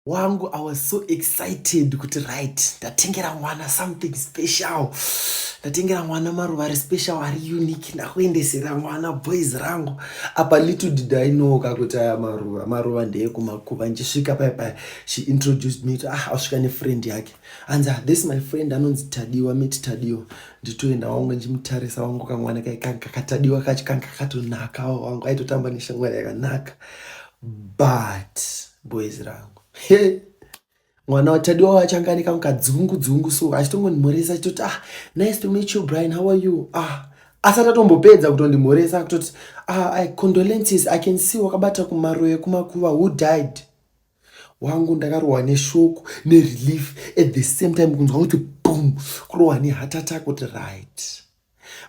wangu i was so excited kuti right ndatengera mwana something special ndatengera mwana maruva ari special ari unique ndakuendesera mwana boys rangu apa little did i know ka kuti aya maruva maruva ndeyekumakuva ndichisvika paya paya she introduced me to ah asvika nefriend yake anzi ah, this my friend anonzi tadiwa miti tadiwa nditoenda wangu ndichimutarisa wangu kamwana kakatadiwa kacho kanga kakatonakawo wangu aitotamba neshamwari yakanaka but boys rangu hey. mwana watadiwa wachanganika mukadzungu dzungu so achitongondimhoresa achitoti ah nice to meet you brian how are you ah asati atombopedza kutondimhoresa kutoti ah, I condolences i can see wakabata kumaro yekumakuva who died wangu ndakarohwa neshoko nerelief at the same time kunzwa kuti boom kurohwa neheart attack kuti right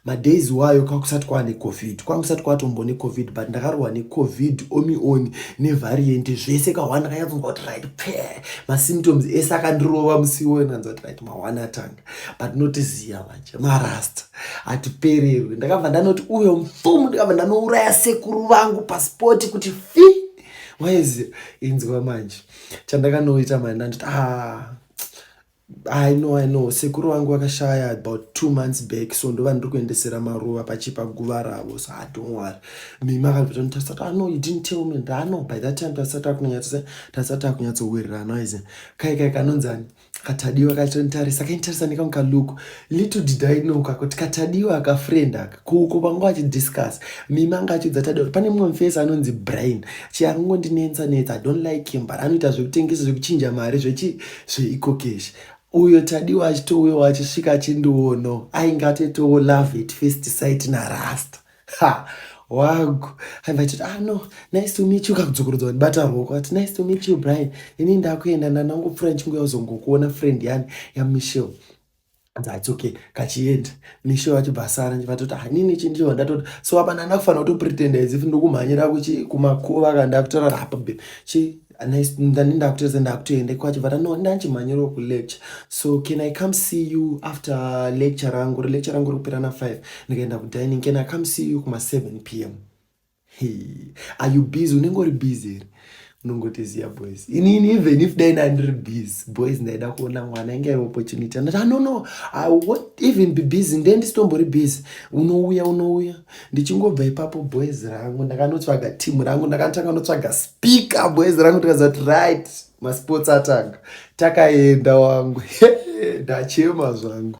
madays wayo kwakusati kwava necovid kwanga kusati kwatombo necovid but ndakarohwa necovid omioni nevariant zvese kahwani ndakanyatsonzwa kuti right pee masymptoms ese akandirova musiwo ndanzwa kuti right mahwani atanga but notiziya manje marasta hatipererwe ndakabva ndanoti uyo mfumu ndikabva ndanouraya sekuru vangu paspoti kuti fi waizi inzwa manje chandakanoita manje ndanditi aa ah, I know, I know. Sekuru wangu wakashaya about two months back so ndova ndiri kuendesera maruva pachipa guva ravo so I don't worry. Mimi akabvita kuti tasati I know you didn't tell me and I know by that time tasati akunyatsa tasati akunyatsowirirana ize kai kai kanonzani katadiwa kachonitarisa kainitarisa nekamuka look little did i know ka kuti katadiwa aka friend aka kuuko vanga vachidiscuss mimi anga achiudza tadiwa kuti pane mumwe mufesi anonzi brain chi akangondinetsa netsa i don't like him but anoita zvekutengesa zvekuchinja mari zvechi zveikokeshi uyo tadiwa achitouyawo achisvika achindiono ainge atoitawo love at first sight narasta ha wagu aiva achiti ah no nice to meet you kakudzokorodza wandibata ruoko ati nice to meet you brian ini ndakuenda ndanangopfuura ndichinguya kuzongokuona friend yani yamichelle that's okay kachienda misho vacho bhasara vatoti hanini chindiwa ndatoti so apa ndanda kufanira kutopretenda as if ndokumhanyira kuchi kumakuva ka ndakutaura apa be chi ndani ndakutesa ndakutoenda kwacho vata no ndanchimhanyira ku lecture so can i come see you after lecture rangu lecture rangu rikupera na 5 ndikaenda ku dining can i come see you kuma 7 pm Hey, are you busy? Unenge uri busy here? Unongoti ziya boys. Inini even if dai ndandiri busy, boys ndaida kuona mwana inge iri opportunity. Ndati, ah, no, no, I won't even be busy. Ndiye ndisitombori busy. Unouya, unouya. Ndichingobva ipapo boys rangu, ndakanotsvaga team rangu, ndakatanga notsvaga speaker boys rangu, tikaziva kuti right, masports atanga. Takaenda wangu. Ndachema zvangu.